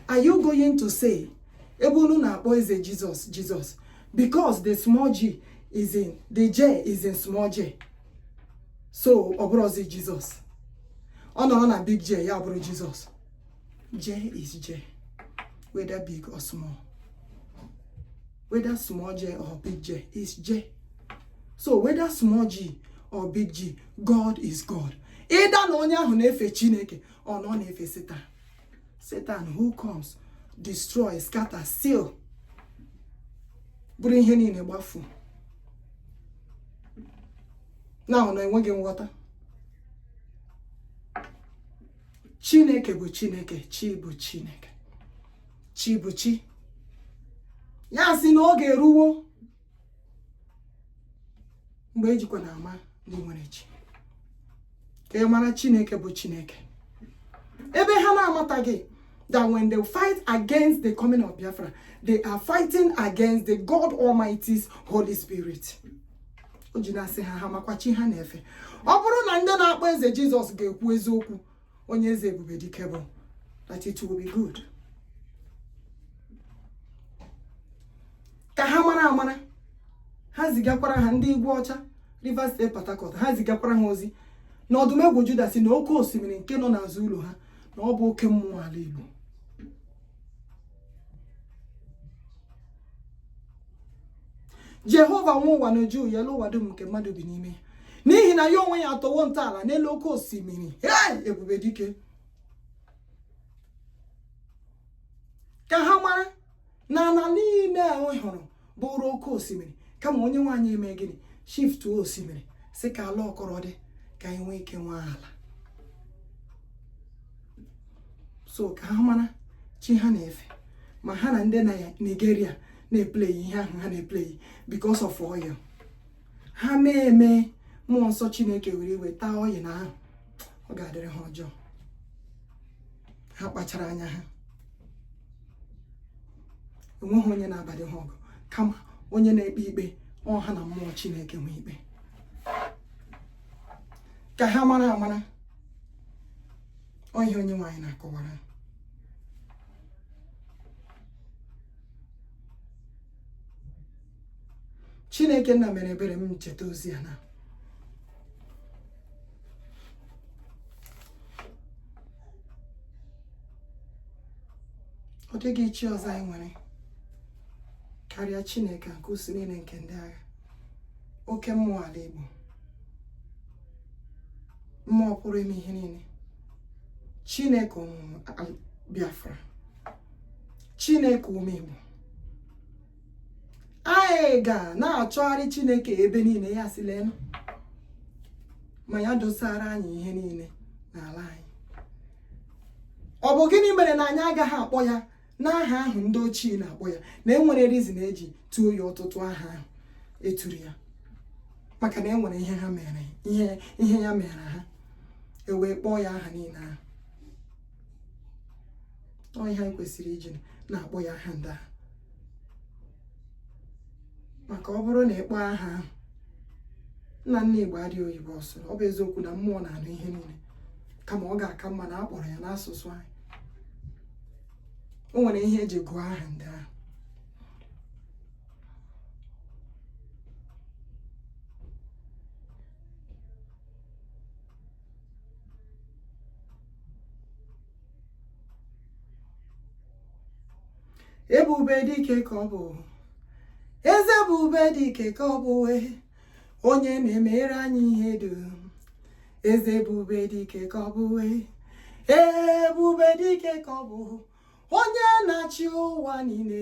are you going to say ebe unu na-akpọ eze Jizọs Jizọs because the small G the J is in small J so ọ bụrụzi Jizọs ọ nọrọ na big J ya abụrụ Jizọs J is J, whether big or small. Whether small J or big J is J. So whether small G or big G, God is God. Either na onye ahụ na-efe Chineke or na ọ na-efe Satan. Satan who comes, destroy, scatter, steal buru ihe niile gbafuo. Na ọ na enweghị nghọta. chineke bụ chineke chi bụ chi ya sị na oge eruwo mgbe ejikwa na ama ndị nwere chi ka a mara chineke bụ chineke ebe ha na-amataghị that when they fight against the coming of Biafra, they are fighting against the God Almighty's Holy Spirit. o ji na-asị ha ha makwa chi ha na-efe ọ bụrụ na ndị na-akpọ eze jizọs ga-ekwu eziokwu onye eze ebube dike bụ that it will be good ka ha mara amara ha zigakwara ha ndị igwe ọcha rivers steeti port harcourt ha zigakwara ha ozi na ọdụm egwu juda sị na oke osimiri nke nọ n'azụ ụlọ ha na ọ bụ oke mmụọ ala igbo jehova nwe ụwa na uju ya elu ụwa dum nke mmadụ bi n'ime ya n'ihi na ya onwe ya atọwo ntọala n'elu oke osimiri ebube dike ka ha mara na ala niile ahụ hụrụ bụrụ oke osimiri kama onyenwe anyị emee gịnị shift osimiri sị ka ala akọrọ dị ka anyị nwee ike nwee ala so ka ha mara chi ha na-efe ma ha na ndị na Nigeria na-epleyi ihe ahụ ha na-epleyi because of oil ha mee eme mmụọ nsọ Chineke were iwe taa oil ahụ ọ ga-adịrị ha ọjọọ ha kpachara anya ha enweghị onye na-abadị ha ọgụ kama onye na-ekpe ikpe ọ ha na mmụọ chineke nwe ikpe ka ha mara amara ọ ihe onyenwe anyị na-akọwara chineke nna mere ebere m cheta ozi a na ọ dịghị chi ọzọ anyị nwere karịa chineke nke usuu niile nke ndị agha oke mmụọ ala igbo mmụọ pụrụ ime ihe niile chineke ụmụ biafra chineke ụmụ igbo anyị ga na-achọgharị chineke ebe niile ya sị leenụ ma ya dosara anyị ihe niile n'ala anyị ọ bụ gịnị mere na anyị agaghị akpọ ya n'aha ahụ ndị ochie na-akpọ ya na e nwere reason e ji tuo ya ọtụtụ aha ahụ e turu ya maka na e nwere ihe ha mere ihe ihe ya meere ha ewee kpọọ ya aha niile ahụ ọ ihe anyị kwesịrị iji na-akpọ ya aha ndị ahụ maka ọ bụrụ na ị kpọọ aha ahụ nna nna igbo adịghị oyibo ọ sụrụ ọ bụ eziokwu na mmụọ na-anụ ihe niile kama ọ ga-aka mma na a kpọrọ ya n'asụsụ anyị o nwere ihe e ji gụọ aha ndị ahụ ebube dike ka ọ bụ eze ebube dike ka ọ bụ wee onye na-emere anyị ihe dum eze ebube dike ka ọ bụ wee ebube dike ka ọ bụ onye na-achị ụwa niile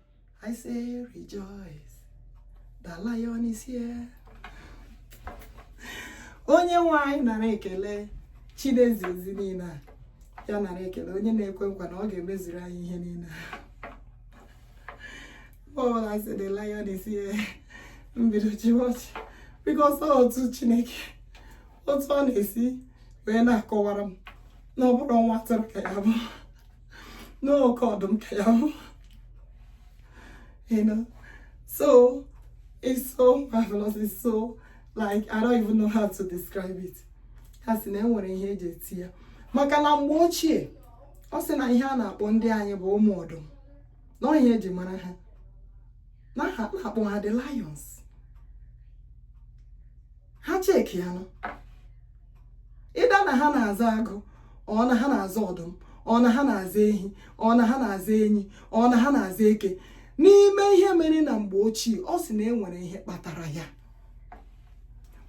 I say rejoice, the lion is here. Onye nwe anyị nara ekele Chi na-ezi ozi niile a ya nara ekele onye na-ekwe nkwa na ọ ga-emezuru anyị ihe niile ọbụla si the lion is here mbido jiwọchị because otu Chineke otu ọ na-esi wee na-akọwara m na ọ bụrọ nwa atụrụ ka ya bụ na oke ọdụm ka ya bụ you know so it's so marvelous it's so like I don't even know how to describe it ha sị na enwere ihe eji eti ya maka na mgbe ochie ọ sị na ihe a na-akpọ ndị anyị bụ ụmụ ọdụm na ihe eji mara ha na ha na-akpọ ha the lions ha checkie ya nọ either na ha na-aza agụ or na ha na-aza ọdụm or na ha na-aza ehi or na ha na-aza enyi or na ha na-aza eke n'ime ihe mere na mgbe ochie ọ sị na e nwere ihe kpatara ya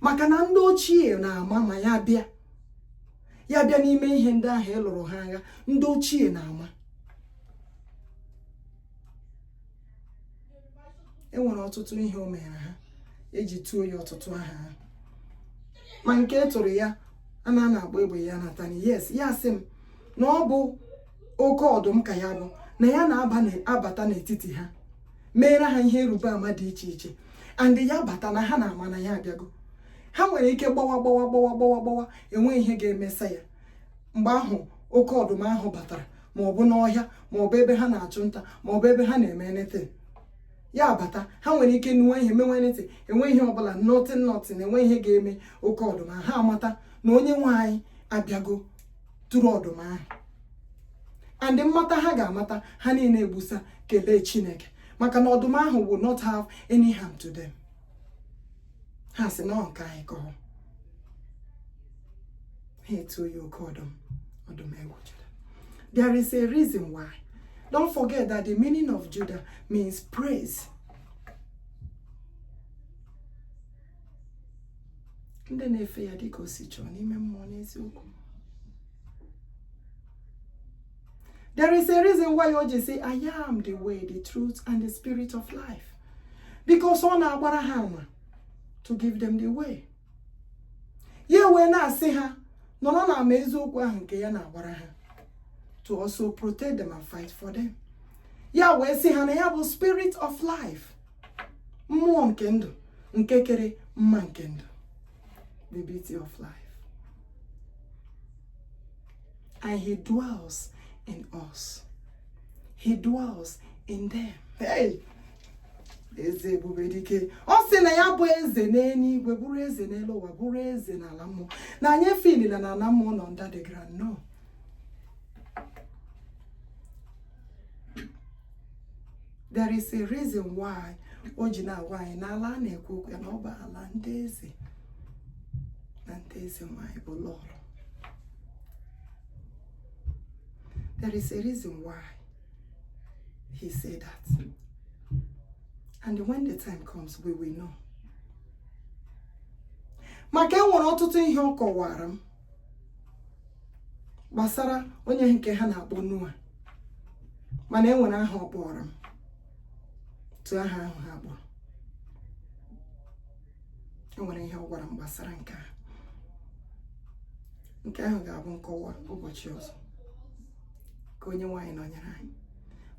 maka na ndị ochie na-ama ma ya bịa ya bịa n'ime ihe ndị ahụ ịlụrụ ha agha ndị ochie na-ama enwere ọtụtụ ihe o meere ha eji tuo ya ọtụtụ aha ha ma nke e turu ya a na na-agba egbe ya na-ata nni yes ya sị m na ọ bụ oke ọdụm ka ya bụ na ya na-abata n'etiti ha meere ha ihe ịrịba ama dị iche iche and ya bata na ha na-ama na ya abịago ha nwere ike gbawa gbawa gbawa gbawa gbawa enweghị ihe ga-emesa ya mgbe ahụ oke ọdụm ahụ batara ma ọ bụ n'ọhịa ma ọ bụ ebe ha na-achụ nta ma ọ bụ ebe ha na-eme anything ya bata ha nwere ike nụwa ihe mewe anything enweghị ihe ọbụla nothing nothing enweghị ihe ga-eme oke ọdụm ahụ ha amata na onye nwe anyị abịago through ọdụm ahụ and mmata ha ga-amata ha niile egbusa kelee chineke maka na ọdụm ahụ will not have any harm to them. ha sị na nke anyị ka ọ ha etuo ya oke ọdụm ọdụm ebo Judah there is a reason why don't forget that the meaning of Judah means praise ndị na-efe ya dịka o si chọọ n'ime mmụọ n'eziokwu There is a reason why o ji sị, I am the way, the truth, and the spirit of life. because ọ na-agbara ha ama to give them the way ya wee na-asị ha nọrọ na ama eziokwu ahụ nke ya na-agbara ha to also protect them and fight for them ya wee sị ha na ya bụ spirit of life mmụọ nke ndụ nke kere mma nke ndụ the beauty of life and he dwells in us he dwells in them hey eze ebube dike ọ sị na ya bụ eze n'eluigwe bụrụ eze n'elu ụwa bụrụ eze n'ala mmụọ na anyị efilila na ala mmụọ nọ under the ground no there is a reason why o ji na-agwa anyị na ala a na-ekwu okwu ya na ọ bụ ala ndị eze na ndị eze nwanyị bụ lọlọ There is a reason why he said that. And when the time comes, we will know. maka enwere ọtụtụ ihe ọ kọwara m gbasara onye nke ha na-akpọ Noah mana enwere aha ọ kpọrọ m tụ aha ahụ ha kpọrọ enwere ihe ọ gwara m gbasara nke a nke ahụ ga-abụ nkọwa ụbọchị ọzọ ka onye nwe anyị nọnyere anyị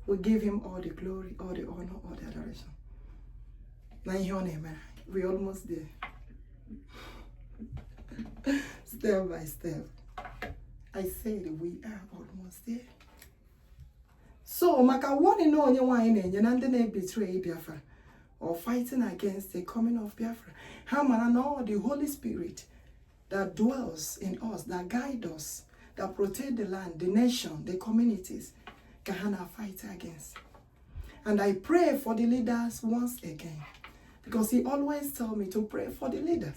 we give him all the glory all the honor all the adoration na ihe ọ na-emere anyị we almost there step by step I said we are almost there so maka warning na onye nwe anyị na-enye na ndị na-ebetray Biafra or fighting against the coming of Biafra ha mara na ọ the Holy Spirit that dwells in us that guide us that protect the land the nation the communities ka ha na fight against and I pray for the leaders once again because he always tell me to pray for the leaders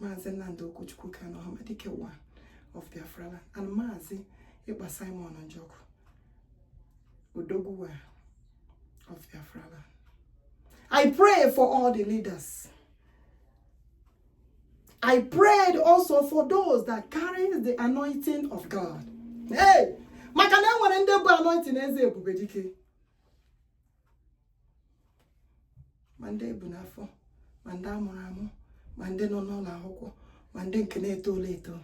Maazị Nnamdi Okwuchukwu Kanu Ọhamadike one of Biafraland and Maazị Ekpa Simon Njọkụ Odogwu one of Biafraland. I pray for all the leaders. I pray also for those that carry the anointing of God. Hey! maka na enwere ndị bu anointing eze ebube dike ma ndị ebu n'afọ ma ndị amụrụ amụ ma ndị nọ n'ụlọ akwụkwọ ma ndị nke na-etolo eto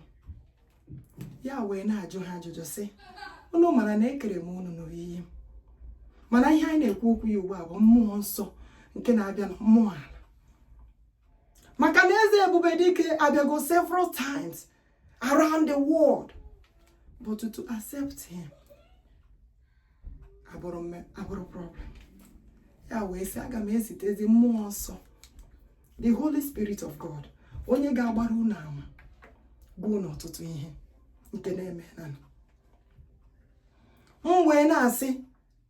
ya wee na-ajụ ha ajụjụ sị unu mara na ekere m unu n'oyiyi m mana ihe anyị na-ekwu okwu ya ugbu a bụ mmụọ nsọ nke na-abịa na mmụọ ala maka na eze ebube dike abịago several times around the world but to accept him abụrụ problem ya wee sị aga m ezitezi mmụọ nsọ the holy spirit of god onye ga-agbara unu ama bụ n'ọtụtụ ihe nke na-eme na m wee na-asị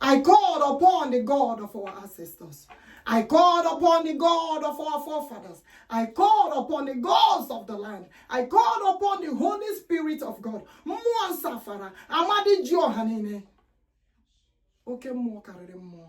I called upon the God of our ancestors. I called upon the God of our forefathers. I called upon the gods of the land. I called upon the Holy Spirit of God. Mmụọ nsafara, amadi ji ọha niile. Oke mmụọ karịrị mmụọ.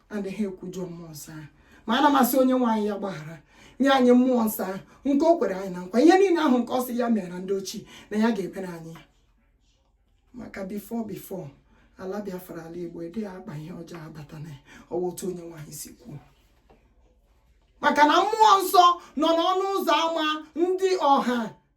anaghị ekwujọ mmụọ nsọ ahụ ma ana m asị onye nwe anyị ya gbaghara nye anyị mmụọ nsọ ahụ nke o kwere anyị na nkwa ihe niile ahụ nke ọ sị ya meere ndị ochie na ya ga-emere anyị ya maka before before ala biafra ala igbo adịghị akpa ihe ọjọọ abata na ọwa otu onye nwe anyị si kwuo maka na mmụọ nsọ nọ n'ọnụ ụzọ ámá ndị ọha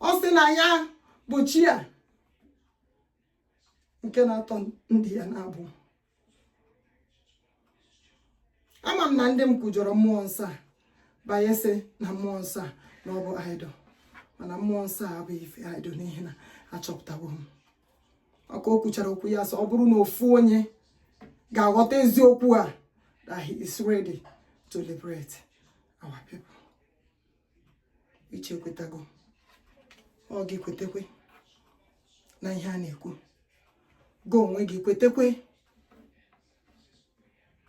ọ sị na ya bụ chi a nke na-atọ ndị ya n'agbụ ama m na ndị m kwujọrọ mmụọ nsọ a banye sị na mmụọ nsọ a na ọ bụ idol mana mmụọ nsọ a bụ ife idol n'ihi na achọpụtawo m ọ ka o kwuchara okwu ya sị ọ bụrụ na ofu onye ga-aghọta eziokwu a that he is ready to liberate our people uche ekwetago ọ gị kwetekwe na ihe a na-ekwu gị onwe gị kwetekwe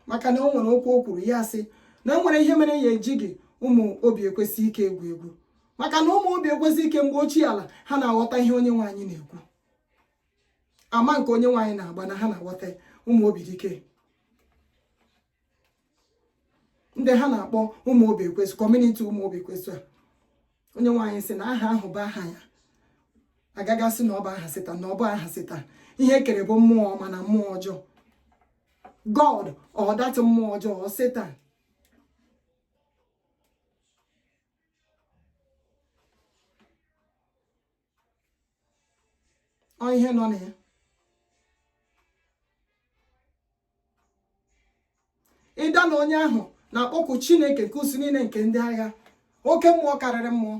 maka na o nwere okwu o kwuru ya sị na o nwere ihe mere ya eji gị ụmụ obi ekwensu ike egwu egwu maka na ụmụ obi ekwensu ike mgbe ochie ala ha na-aghọta ihe onye nwe anyị na-ekwu ama nke onye nwe anyị na-agba na ha na-aghọta ụmụ obi dike ndị ha na-akpọ ụmụ obi ekwensu community ụmụ obi ekwensu a onye nwe anyị sị na aha ahụ bụ aha ya agaghị asị na ọ bụ aha satan na ọ bụ aha satan ihe e kere bụ mmụọ ọma na mmụọ ọjọọ god ọdatị mmụọ ọjọọ satan ọ ihe nọ na ya is that na onye ahụ na-akpọku chineke nke usuu niile nke ndị agha oke mmụọ karịrị mmụọ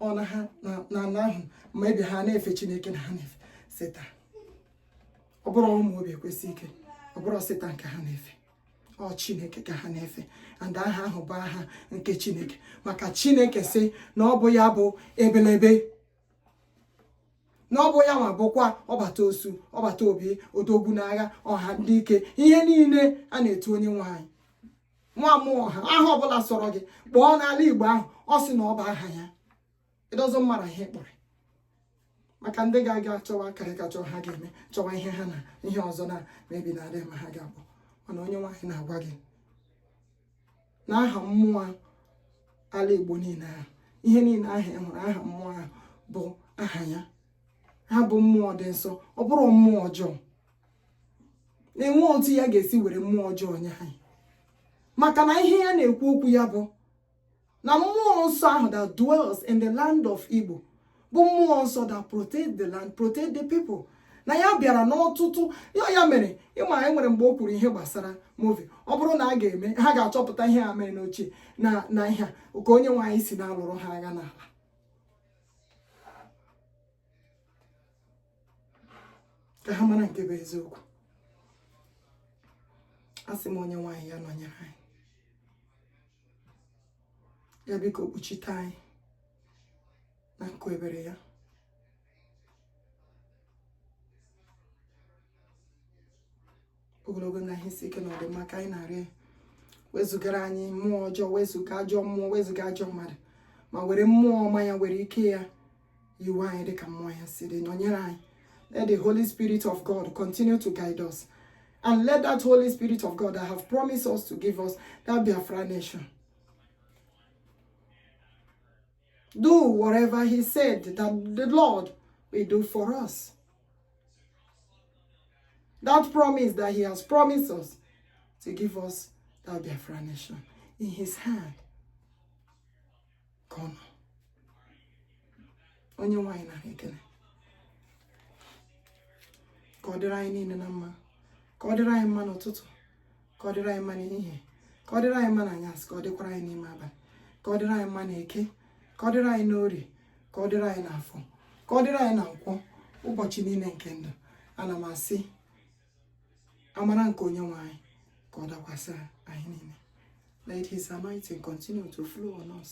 ọ na ha na ala ahụ ma ebe ha na-efe chineke na ha na-efe satan ọ bụrụ ụmụ obi ekwensu ike ọ bụrụ satan ka ha na-efe ọ chineke ka ha na-efe and aha ahụ bụ aha nke chineke maka chineke sị na ọ bụ ya bụ ebelebe na ọ bụ ya nwa bụkwa ọbata osu ọbata obie odogwu n'agha ọha ndị ike ihe niile a na-etu onye nwe anyị nwa mmụọ ọha aha ọbụla sọrọ gị kpọọ n'ala igbo ahụ ọ sị na ọ bụ aha ya ndị ọzọ mara ihe kpọrọ maka ndị ga-aga chọwa akarị ka chọọ ha ga-eme chọwa ihe ha na ihe ọzọ na mebi na adịghị ma ha ga-abụ mana onye nwe anyị na-agwa gị na aha mmụọ ala igbo niile ahụ ihe niile ahụ ị hụrụ aha mmụọ ahụ bụ aha ya ha bụ mmụọ dị nsọ ọ bụrụ mmụọ ọjọọ na-enwe otu ya ga-esi were mmụọ ọjọọ nye anyị maka na ihe ya na-ekwu okwu ya bụ na mmụọ nsọ ahụ that dwells in the land of Igbo bụ mmụọ nsọ that protect the land protect the people na ya bịara n'ọtụtụ ya ya mere ị ma e nwere mgbe o kwuru ihe gbasara movie ọ bụrụ na a ga-eme ha ga-achọpụta ihe ha mere n'ochie na na ihe ka onye nwe anyị si na-alụrụ ha agha n'ala ka ha mara nke bụ eziokwu a sị m onye nwe anyị ya nọnyere anyị ya biko kpuchite anyị na nku ebere ya ogologo ndụ ahụ isi ike na ọdịmma ka anyị na-arịọ wezụgara anyị mmụọ ọjọọ wezụga ajọ mmụọ wezụga ajọ mmadụ ma were mmụọ ọma ya were ike ya yiwe anyị dịka mmụọ ya si dị nọnyere anyị let the holy spirit of god continue to guide us and let that holy spirit of god that have promised us to give us that biafra nation Do whatever he said that the Lord will do for us. That promise that he has promised us to give us that Biafra nation in his hand. Come on. onye nwe anyị na ekele ka ọ dịrị anyị niile na mma ka ọ dịrị anyị mma n'ụtụtụ ka ọ dịrị anyị mma n'ehihie ka ọ dịrị anyị mma n'anyasị ka ọ dịkwara anyị n'ime abalị ka ọ dịrị anyị mma n'eke ka ọ dịrị anyị n'orie ka ọ dịrị anyị n'afọ ka ọ dịrị anyị na nkwọ ụbọchị niile nke ndụ ana m asị amara nke onye nwe anyị ka ọ dakwasị anyị niile let his anointing continue to flow on us